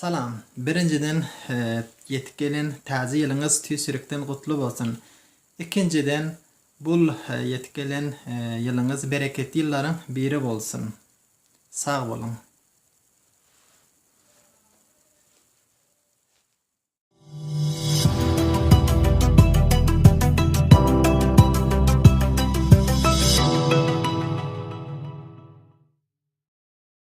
Salam. Birinjiden ýetip gelen Täze ýylyňyz tüýs ýürekden gutly bolsun. Ikinjiden bul ýetip gelen ýylyňyz bereketli ýyllaryň biri bolsun. Sag boluň.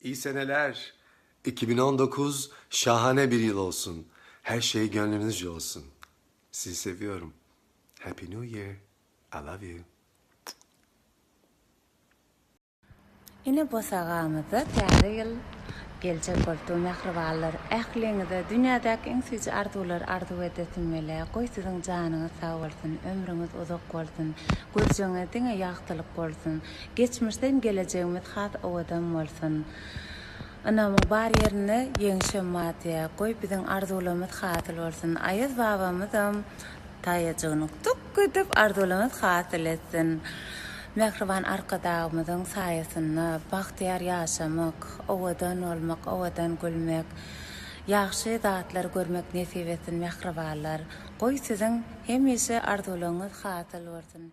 İyi seneler iki bin on dokuz şahane bir yıl olsun her şey gönlünüzce olsun sizi seviyorum happy new year I love you. Ine bosagamyzda täze ýyl geljek bolupdyr mähribanlar ähliňize dünýädäki iň süýji arzuwlary arzuw edesim gelýär goý siziň janyňyz sag bolsun ömrüňiz uzak bolsun gözjeňe diňe ýagtylyk bolsun Geçmişde hem gelejegimiz has owadan bolsun. Ynamyň bar ýerinde ýeňişem bar diýä. Goý biziň arzuwlarymyz hasyl bolsun. Aýaz babamyzam taýajygyny tuk edip arzuwlarymyz hasyl etsin. Mähriban Arkadagymyzyň saýasynda bagtyýar ýaşamak, owadan bolmak, owadan gülmek, ýagşy zatlary görmek nesip etsin mähribanlar. Goý siziň hemişe arzuwlaryňyz hasyl bolsun.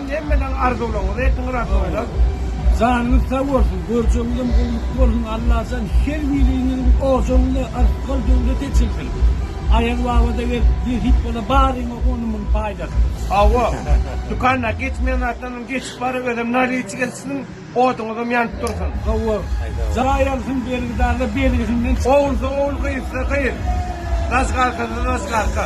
Hemmäňiz arzuwlaryňyzy etdiňiz Atamjan. Janyňyz sag bolsun, görjegiňizem gulluk bolsun Allajan her biriňiziň ojagyna yrtgal döwlet eçilsin. Aýaz babada gelip nesip bola baryňa on müň paýdasy. Hawa, dükanda geçmeýän zatlardan geçip baryp özem naliýçi gelipsiň, oduňyzam ýanyp dursun. Hawa, jaý alsyn bergidarlar bergisinden çyksyn. Ogulsa ogul gyzsa gyz. Zajgarkada zajgarka.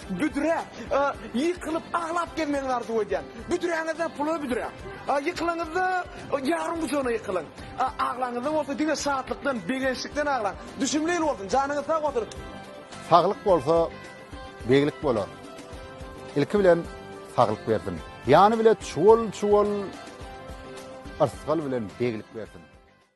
Büdrä ýykylyp aglap gezmegiňizi arzuw edýän. Büdräňizde pul we büdrä. Ýykylaňyzda ýaryň gujagyna ýykylyň. Aglaňyzda bolsa diňe şatlykdan, begençlikden aglaň. Düşümli ýyl bolsun. Janyňyz sag bolsun. Saglyk bolsa beglik bolar. Ilki bilen saglyk bersin. Ýany bile çuwal-çuwal yrsgal bilen beglik bersin.